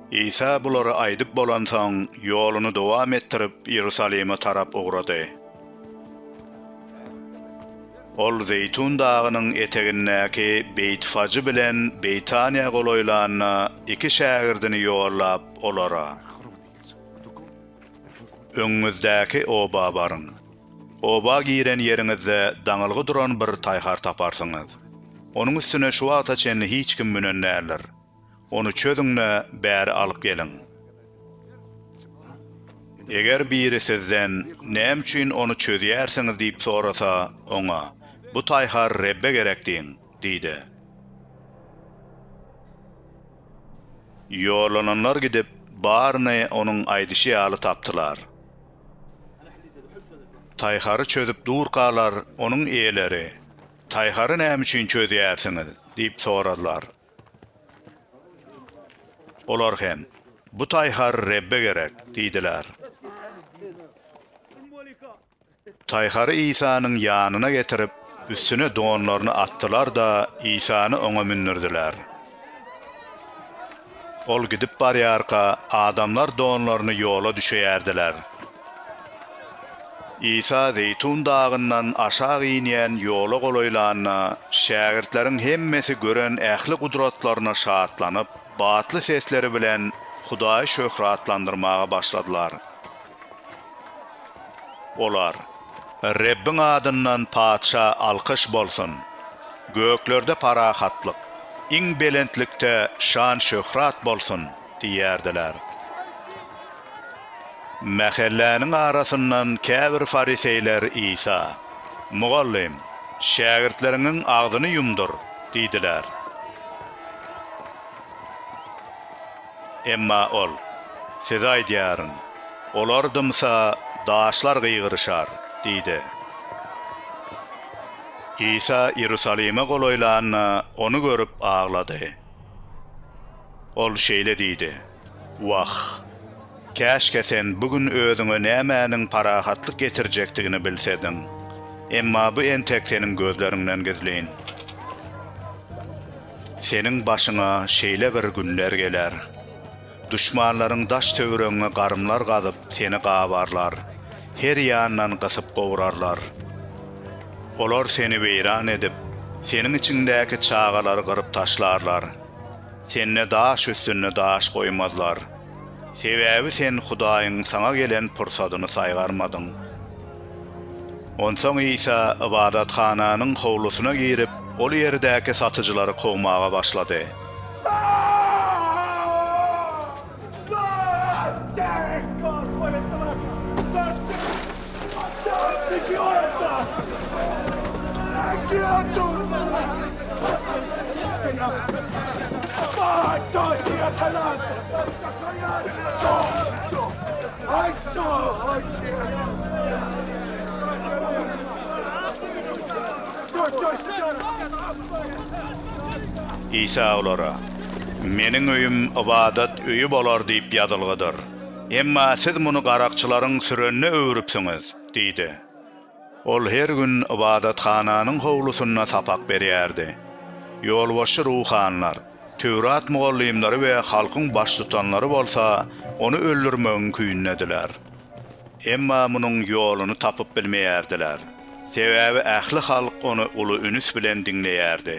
Isa bulary aýdyp bolansoň, ýoluny dowam etdirip, Iýerusalime tarap ugrady. Ol Zeýtun dagynyň etegindäki Beýtfajy bilen Beýtaniýa golaýlanda, iki şägirdini ýollap, olara, Öňüňizdäki oba baryň. Oba giren ýeriňizde daňylgy duran bir taýhar taparsyňyz. Onuň üstüne şu wagta çenli hiç kim münen däldir. Ony çözüň-de, bäri alyp geliň. Eger biri sizden, Näme üçin ony çözýärsiňiz? diýip sorasa, oňa, Bu taýhar Rebbe gerek diýiň! diý-de. Ýollananlar gidip, baryny onuň aýdyşy ýaly tapdylar. Taýhary çözüp durkalar onuň eýeleri, Taýhary näme üçin çözýärsiňiz? diýip soradylar. Olar hem, Bu taýhar Rebbe gerek diýdiler. Taýhary Isanyň ýanyna getirip, üstüne donlaryny atdylar-da, Isany oňa mündürdiler. Ol gidip barýarka, adamlar donlaryny ýola düşeýärdiler. Isa Zeýtun dagyndan aşak inýän ýola golaýlanda, şägirtleriň hemmesi gören ähli gudratlaryna şatlanyp, batly sesleri bilen Hudaýy şöhratlandyrmaga başladylar. Olar, Rebbiň adyndan patyşa alkyş bolsun! Göklerde parahatlyk, iň belentlikde şan-şöhrat bolsun! diýerdiler. Mähelläniň arasyndan käbir fariseýler Isa, Mugallym, şägirtleriňiň agzyny ýumdur! diýdiler. Emma ol, Size aýdýaryn, olar dymsa, daşlar gygyryşar diýdi. Isa Iýerusalime golaýlanda, ony görüp aglady. Ol şeýle diýdi, Wah! Käşgä sen bu gün özüňe nämäniň parahatlyk getirjekdigini bilsediň. Emma bu entek seniň gözleriňden gizlin. Seniň başyňa şeýle bir günler geler. Duşmanlaryň daş-töwregiňe garymlar gazyp, seni gabarlar, her ýandan gysyp gowrarlar. Olar seni weýran edip, seniň içiňdäki çagalary gyryp taşlarlar. Sende daş üstünde daş goýmazlar. Sebäbi sen Hudaýyň saňa gelen pursadyny saýgarmadyň. Onsoň Isa ybadathananyň howlusyna girip, ol ýerdäki satyjylary kowmaga başlady. Isa olara, Meniň öýüm ybadat öýi bolar diýip ýazylgydyr. Emma siz muny garakçylaryň sürenine öwrüpsiňiz, diýdi. Ol her gün ybadathananyň howlusynda sapak berýärdi. Ýolbaşçy ruhanylar, Töwrat mugallymlary we halkyň baştutanlary bolsa ony öldürmegiň küýündediler. Emma munuň ýoluny tapyp bilmeýärdiler, sebäbi ähli halk ony uly ünüs bilen diňleýärdi.